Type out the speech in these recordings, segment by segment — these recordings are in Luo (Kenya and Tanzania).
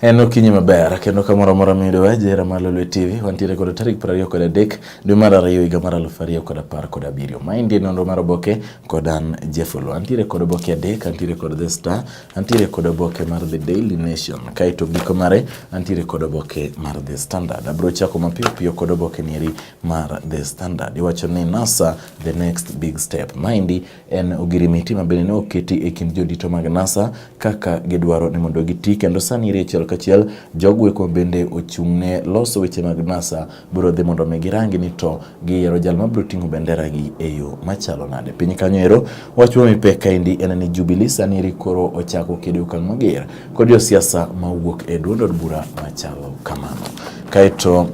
En okinyi maber kendo kamoro amora miyudo wa jera mar Lolwe TV wantiere kod tarik piero ariyo kod adek dwe mar ariyo higa mar aluf ariyo kod apar kod abiriyo. Maendi en nonro mar oboke kod an Jeff Oloo. Antiere kod oboke adek, antiere kod The Star, antiere kod oboke mar The Daily Nation, kaeto giko mare antiere kod oboke mar The Standard. Abiro chako mapiyo piyo kod oboke nieri mar The Standard. Iwacho ni NASA the next big step. Maendi en ogirimiti ma bende ne oketi e kind jodito mag NASA kaka gidwaro ni mondo giti kendo sani iri achiel kachiel jogweko bende ochung' ne loso weche mag NASA biro dhi mondo mi girangi ni to giyiero jal ma biro ting'o bendera gi e yo machalo nade piny kanyo ero wach ma mipek kaendi en ni Jubilee sani iri koro ochako kede okang' mager kod josiasa ma wuok e duond od bura machalo kamano kaeto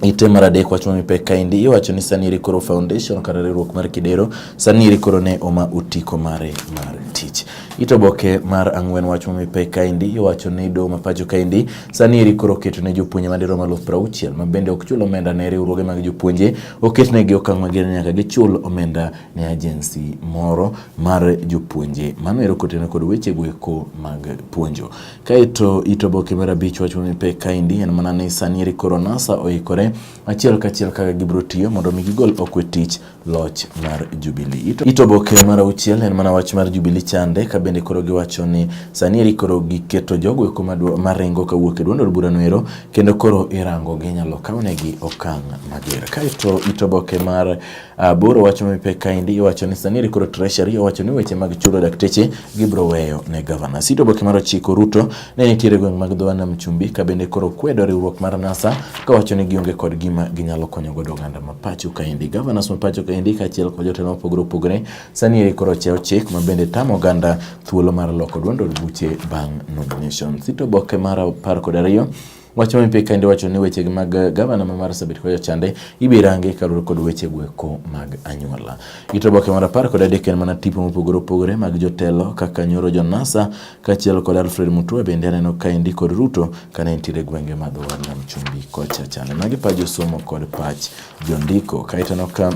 Ite mar adek wach mami pek kaendi iwacho ni sani eri koro foundation kata riwruok mar Kidero sani eri koro ne oma otiko mare mar tich. Ite oboke mar ang'wen wach mami pek kaendi iwacho ni doho ma pacho kaendi sani eri koro oketo ne jopuonje madirom alufu piero auchiel ma bende ok chul omenda ne riwruoge mag jopuonje oket negi okang' mager ni nyaka gichul omenda ne agency moro mar jopuonje. Mano ero kotenore kod wechego eko mag puonjo. Kaeto it oboke mar abich wach mamiyo pek kaendi en mana ni sani eri koro NASA oikore achiel kachiel kaka gibiro tiyo mondo mi gigol okwe tich loch mar Jubilee. It oboke mar auchiel en mana wach mar Jubilee chande ka bende koro giwacho ni sani eri koro giketo jogo eko maringo kawuok e duond od burano ero kendo koro irango ginyalo kawnegi okang' mager. Kaeto it oboke mar Uh, bur owacho mipek kaendi iwacho ni sani rikoro treasury owacho ni weche mag chulo dakteche gibro weyo ne gavana sito boke mar ochiko ruto ne nitiere gweng' mag dho nam chumbi ka bende koro kwedo riwruok mar nasa kawacho ni gionge kod gima ginyalo konyo godo oganda ma pacho kaendi gavanas ma pacho kaendi kaachiel kod jotelo mopogore opogore sani eri koro ochewo chik ma bende tamo oganda thuolo mar loko duond od buche bang' nomination sito boke mar apar kod ariyo Wach ma mipika kendo wacho ni weche mag eh, gavana ma Marsabit kod jochande ibiro rangi kaluwore kod weche gweko mag anyuola. Gito oboke mar apar kod adek en mana tipo mopogore opogore mag jotelo kaka nyoro Jonasa kaachiel kod Alfred Mutua bende aneno kaendi kod Ruto kane nitiere gwenge ma dho nam chumbi kocha chande. Magi pa josomo kod pach jondiko kaeto aneno ka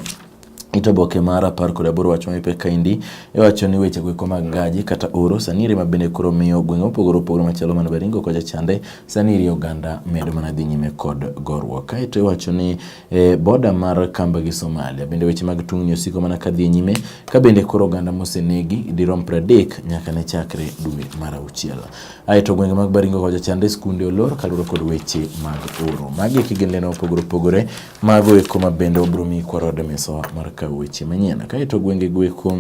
It oboke mar apar kod aboro wach mapek kaendi iwacho ni weche goeko mag ngaji kata oro sani iri mabende koro miyo gwenge mopogore opogore machalo mana Baringo kocha chande sani iri oganda medo mana dhi nyime kod gorruok. Kaeto iwacho ni eh, boda mar Kamba gi Somalia bende weche mag tungni osiko mana kadhi e nyime ka bende koro oganda mosenegi dirom pradek nyaka ne chakre dwe mar auchiel. Aeto gwenge mag Baringo kocha chande skunde olor kaluwore kod weche mag oro. Magi e kigendene opogore opogore Mago eko ma bende wabiro miyi kwarode mesawa mar kawo weche manyien. Kaeto gwenge go eko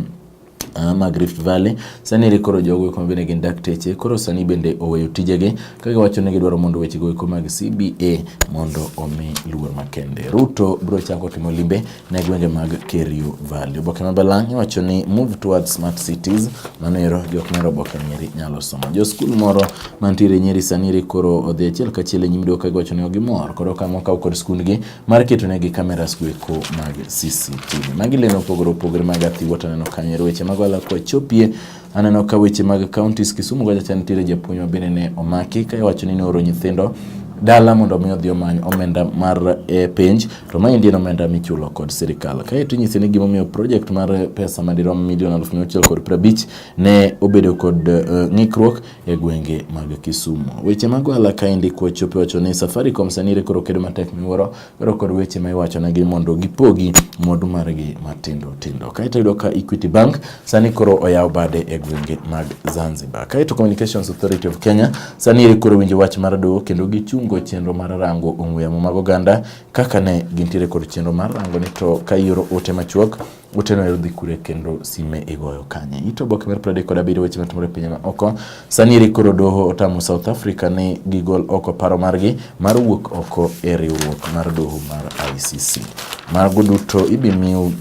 Ah, mag Rift Valley. Sani eri koro jogo eko mabende gin dakteche koro sani bende oweyo tijegi ka giwacho ni gidwaro mondo wechego eko mag CBA mondo omi luor makende. Ruto biro chako timo limbe ne gwenge mag Kerio Valley. Oboke ma Balang' iwacho ni move towards smart cities, mano ero jok mero oboke nyeri nyalo somo. Jo skul moro mantiere Nyeri sani ri koro odhi achiel kachiel e nyim doka giwacho ni gimor koro kama okaw kod skundgi mar keto negi kameras goeko mag CCTV. Magi lendo opogore opogore mag athiwa to aneno kanyo ero weche mago alakwa chopie aneno ka weche mag counties Kisumu kacha cha nitiere japuonj ma bende ne omaki ka iwacho ni nooro nyithindo dala mondo mi odhi omany omenda mar e, penj to ma indien omenda michulo kod sirikal. Kae to inyisi ni gimomiyo project mar pesa madirom milion aluf mia auchiel kod prabich ne obedo kod e, ng'ikruok e gwenge mag Kisumu. Weche mag ohala kaendi kwachope wacho ni Safaricom sanire koro kedo matek miwuoro koro kod weche ma iwachonegi mondo gipogi mwandu margi matindo tindo. Kaeto yudo ka Equity Bank sani koro oyawo bade e gwenge mag Zanzibar. Kaeto Communications Authority of Kenya sanire koro winjo wach mar doho kendo gichungo chenro mar rango ong'we yamo mag oganda kaka ne gintiere kod chenro mar rango ni to ka ioro ote machuok Otieno ayudo dhi kure kendo sime igoyo kanye? Ito oboke mar pradek kod abiriyo weche matimore e pinje ma oko. Sani eri koro doho otamo South Africa ni gigol oko paro margi mar wuok oko e riwruok mar doho mar ICC. Mago duto ibimiu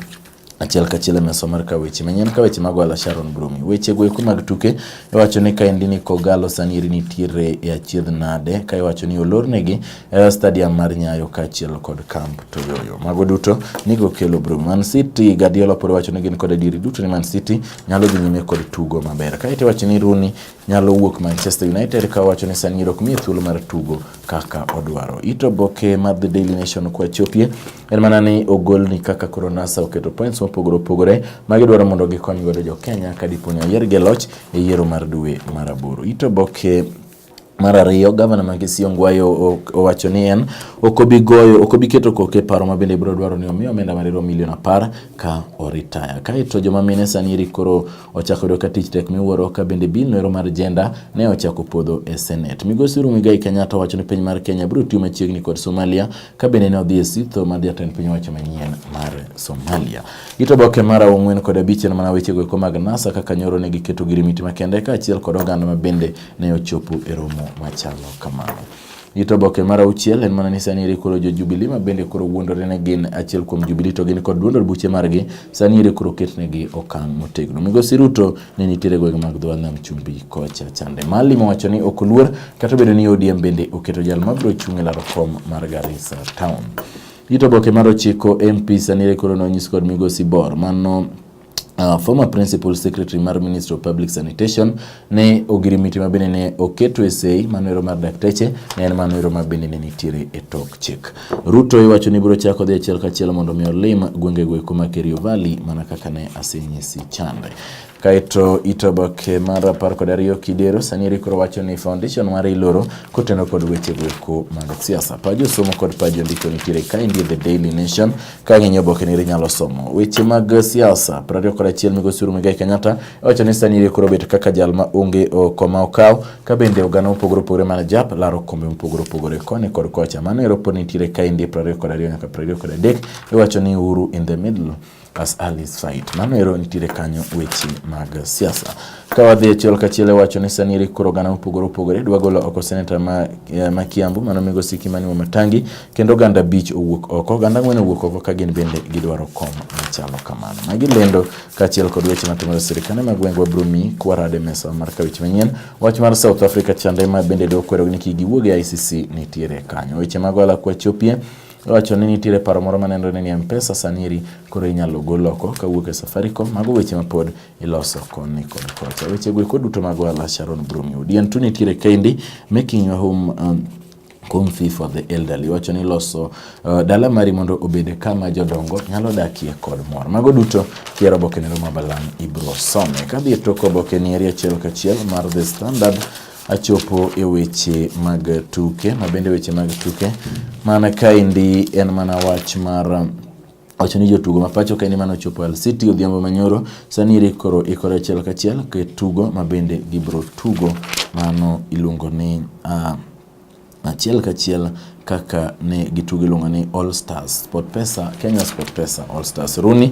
achiel kachiel e mesa mar ka weche manyien ka weche mag wala Sharon Brumi. Weche go eko mag tuke iwacho ni kaendi ni Kogalo sani eri nitiere e achiedh nade ka iwacho ni olornegi e stadium mar Nyayo kaachiel kod Camp Toyoyo. Mago duto nigo kelo bro. Man City Guardiola pod wacho ni gin kod adieri duto ni Man City nyalo dhi nyime kod tugo maber. Kae to wacho ni Rooney nyalo wuok Manchester United ka wacho ni San Siro miye thuolo mar tugo kaka odwaro. Ito boke mar The Daily Nation kwa chopie en mana ni ogol ni kaka koro NASA oketo points mopogore opogore ma gidwaro mondo gikony godo jo Kenya ka dipo ni oyiergi e loch e yiero mar dwe mar aboro. Ito boke Mar ariyo, gavana ma Kisii Ongwayo owacho ni en ok obi goyo ok obi keto koke e paro ma bende biro dwaro ni omi omenda marirom milion apar ka oritaya. Kaeto joma mine sani eri koro ochako yudo ka tich tek miwuoro ka bende bill noero mar jenda ne ochako podho e Senate. Migosi Uhuru Muigai Kenyatta owacho ni piny mar Kenya biro tiyo machiegni kod Somalia ka bende ne odhi e sitho mar jatend piny owacho manyien mar Somalia. Ito boke mar ang'wen kod abich en mana wechego eko mag NASA kaka nyoro ne giketo girimiti makende kaachiel kod oganda ma bende ne ochopo e romo machalo kamano. Gito oboke mar auchiel en mana ni sani eri koro jo Jubilee ma bende koro wuondore ne gin achiel kuom Jubilee to gin kod duond od buche margi sani eri koro ketnegi okang' motegno. Migosi Ruto ne nitiere gwenge mag dho nam chumbi kocha chande. Malima wacho ni ok oluor kata obedo ni ODM bende oketo jal mabiro chung' e laro kom mar Garissa Town. Gito oboke mar ochiko MP sani eri koro nonyis kod migosi Bor mano Uh, former principal secretary mar ministry of public sanitation ne ogirimiti ma bende ne oketo e sei manoero mar dakteche ne en manoero ma bende ne nitiere e tok chik. Ruto iwacho ni biro chako dhi achiel kachiel mondo mi olim gwenge go eko ma Kerio Valley mana kaka ne asenyisi chande. Kaeto itoboke mar apar kod ariyo kidero sani eri koro wacho ni foundation mar iloro koteno kod weche go eko mag siasa. Pajo somo kod pajo ndiko nitiere kaendi The Daily Nation Ka ing'iyo obokeni inyalo somo weche mag siasa. Piero ariyo kod achiel migosi Uhuru Muigai Kenyatta owacho ni sani ire koro bet kaka jal ma onge okoma okaw ka bende oganda mopogore opogore mana jap laro kombe mopogore opogore koni kod kocha. Mano ero pod nitiere ka indie piero ariyo kod ariyo nyaka piero ariyo kod adek iwacho ni Uhuru in the middle as Ali Said. Mano ero nitiere kanyo weche mag siasa. Ka wadhi achiel kachiel e wacho ni sani eri koro oganda mopogore opogore dwa golo oko seneta ma, eh, ma Kiambu mano migosi Kimani Wamatangi kendo oganda abich owuok oko oganda ang'wen owuok oko ka gin bende gidwaro kom machalo kamano. Magi lendo kaachiel kod weche matimore sirikande mag gwengwa biro miyi kwarade mesa mar ka weche manyien. Wach mar South Africa chande ma bende dwa kwero ni kik giwuog e ICC nitiere kanyo. Weche mag ohala kwa chopie Owacho ni nitiere paro moro manenore ni Mpesa sani eri koro inyalo gol oko kawuok e Safaricom. Mago weche mapod iloso koni kod kocha. Weche go eko duto mag ohala Sharon Brumi Odian tu nitiere kendi making a home um, home fee for the elderly wacho ni loso uh, dala mari mondo obed kama jodongo nyalo dakie kod mor mago duto kiero oboke nero mabalang ibro some kadhi e tok oboke ni eri achiel kachiel mar the standard achopo e weche mag tuke mabende weche mag tuke mana kaendi en mana wach mar um, Wacho ni jotugo ma pacho kae ni mano ochopo Al City odhiambo manyoro. Sani Eric koro ikore achiel kachiel ke tugo ma bende gibro tugo mano iluongo ni uh, achiel kachiel kaka ne gitugo iluongo ni All Stars Sport Pesa, Kenya Sport Pesa All Stars. Rooney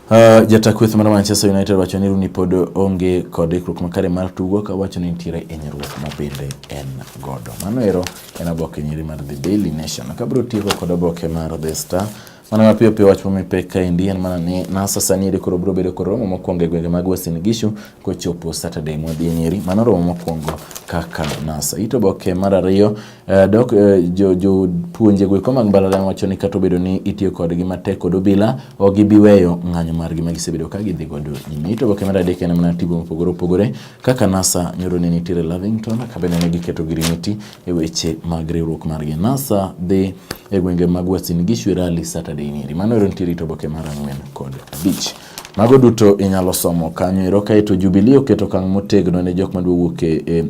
Uh, jata kweth mar Manchester United wacho ni Rooney pod onge kod ikruok makare mar tugo ka wacho ni nitiere hinyruok ma bende en godo. Mano ero en oboke nyiri mar The Daily Nation. Kabiro tieko kod oboke mar The Star mana mapiyo piyo wach momipek kaendi en mana ni NASA sani eri koro biro bedo kod romo mokwongo e gwenge mag Uasin Gishu kochopo Saturday mwadhi e Nyeri. Mano romo mokwongo kaka NASA. Ito oboke mar ariyo Uh, dok uh, eh, jopuonje jo goeko mag mbalariany wacho ni kata obedo ni itiyo kodgi matek kod obila ok gibiweyo ng'anyo margi ma gisebedo ka gidhi godo nyime ito boke mar adek en mana tigo mopogore opogore kaka nasa nyoro ne nitiere lavington kabende ne giketo girimiti e weche mag riwruok margi nasa dhi e gwenge mag wasin gishu rally saturday niri mano ero nitiere ito boke mar ang'wen kod abich mago duto inyalo somo kanyo ero kaeto jubilee oketo kang' motegno ne jok madwa wuok e, e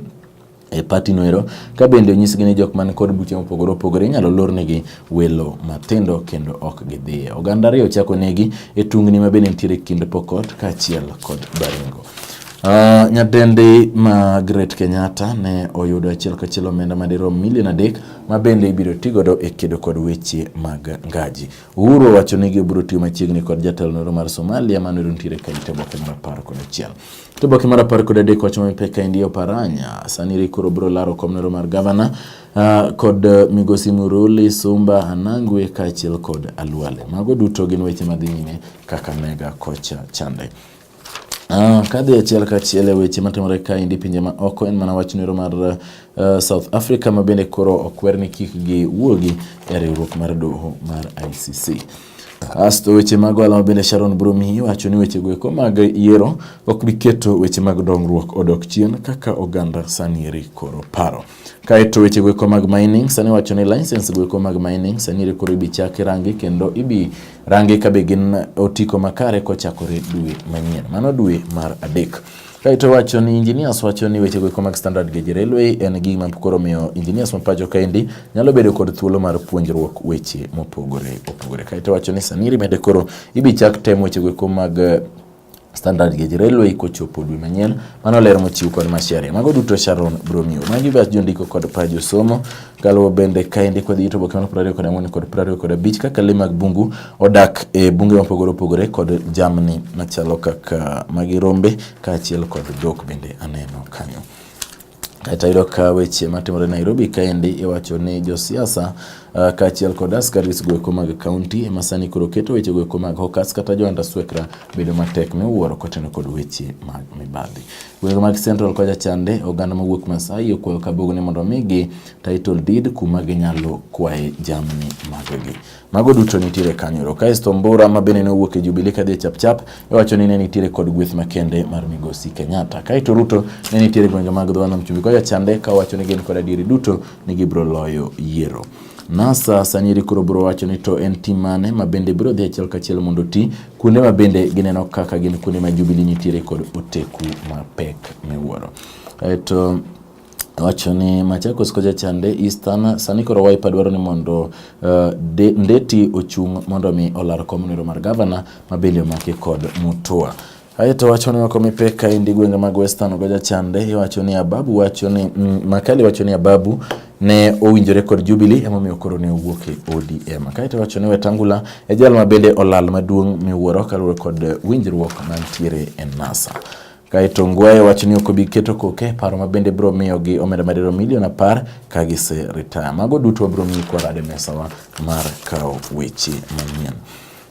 e pati noero ka bende onyisgi ni jok man kod buche mopogore opogore inyalo lornegi welo matindo kendo ok gidhiye. Oganda ariyo chako negi e tungni ma bende nitiere kind Pokot kaachiel kod Baringo. Uh, ah, nyadendi Margaret Kenyatta ne oyudo achiel kachiel omenda madirom milion adek ma bende ibiro ti godo e kedo kod weche mag ngaji. Uhuru owacho ni gibiro tiyo machiegni kod jatelo noro mar Somalia manoro nitiere ka ite boke mar apar kod achiel. To boke mar apar kod adek wacho ma pek kaendi Oparanya sani ri koro biro laro komnero mar gavana uh, kod uh, migosi Muruli Sumba Anangwe kaachiel kod Alwale. Mago duto gin weche madhi nyime Kakamega kocha chande. Ah, kadhi achiel kachiel e weche matimore kaendi pinje ma oko en mana wach nero mar uh, South Africa ma bende koro okwer ni kik giwuogi e riwruok mar doho mar ICC. Asto weche mag ohala ma bende Sharon Brumi wacho ni weche goeko mag yiero ok bi keto weche mag dongruok odok chien kaka oganda sani eri koro paro. Kaeto weche goeko mag mining sani wacho ni license goeko mag mining sani eri koro ibi chaki rangi kendo ibi rangi ka be gin otiko makare kochakore dwe manyien. Mano dwe mar adek. Kaito wacho ni engineers wacho ni weche goeko mag standard gauge railway en gima koro miyo engineers ma pacho kaendi nyalo bedo kod thuolo mar puonjruok weche mopogore opogore. Kaito wacho ni sani rimede koro ibichak tem weche goeko mag eh, standard gauge railway kochopo dwe manyien. Mano ler mochiw kod Macharia. Mago duto Sharon Bromio. Magi bach jondiko kod pajo somo. Kaluwo bende kaendi kod yuto oboke mar prariyo kod ang'wen kod prariyo kod abich kaka le mag bungu odak e bunge mopogore opogore kod jamni machalo kaka magi rombe kaachiel kod dhok bende aneno kanyo. Kaeto ayudo ka weche matimore Nairobi kaendi iwacho ni josiasa uh, kaachiel kod askaris goeko mag kaunti ema sani koro keto weche goeko mag hokas kata joanda swekra bedo matek miwuoro kotenore kod weche mag mibadhi. Gwenge mag Central kocha chande, oganda mawuok Masai okwayo Kabugu ni mondo omigi title deed kuma ginyalo kwaye jamni magegi. Mago duto nitiere kanyoro. Kaesto Mbura ma bende nowuok e Jubilee kadhi e Chapchap iwacho e ni ne nitiere kod gweth makende mar Migosi Kenyatta. Kaeto Ruto ne nitiere gwenge mag dho nam chumbi koya chande ka wacho ni gin kod adieri duto ni gibiro loyo yiero. NASA sani iri koro biro wacho ni to en tim mane ma bende biro dhi achiel kachiel mondo ti kuonde ma bende gineno kaka gin kuonde ma Jubilee nitiere kod oteku mapek miwuoro. Eto wacho ni Machakos koja chande Eastern sani koro Wiper dwaro ni mondo uh, de, Ndeti ochung' mondo mi olar komnero mar gavana ma bende omaki kod Mutua. Aye to wacho ni wako mipek ka indi gwenge mag Western Ogoja Chande, iwacho ni Ababu wacho ni mm, Makali wacho ni Ababu ne owinjore kod Jubilee emomiyo koro ne owuok e ODM. Kae to wacho ni Wetangula e jal ma bende olal maduong' miwuoro kaluwore kod winjruok mantiere e NASA. Kae to Ngwaye wacho ni ok obi keto koke paro ma bende biro miyo gi omenda madiro milion apar ka gise retire. Mago duto wabiro miyi kwarade mesawa mar kawo weche manyien.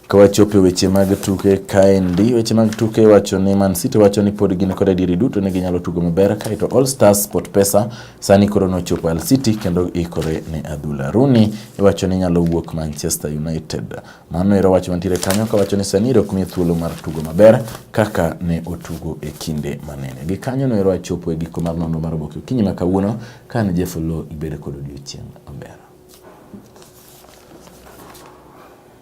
Kawachopo e weche mag tuke kaendi, weche mag tuke wacho ni Man City wacho ni pod gin kod adieri duto ni ginyalo tugo maber kae to All Stars Sport Pesa sani koro nochopo Al City kendo ikore ne adhula. Rooney iwacho ni nyalo wuok Manchester United. Mano ero wach mantiere kanyo kawacho ni sani ok miye thuolo mar tugo maber kaka ne otugo e kinde manene. Gi kanyo no ero wachopo e giko mar nonro mar oboke okinyi ma kawuono ka ne Jeff Oloo ibedo kod odiochieng' maber.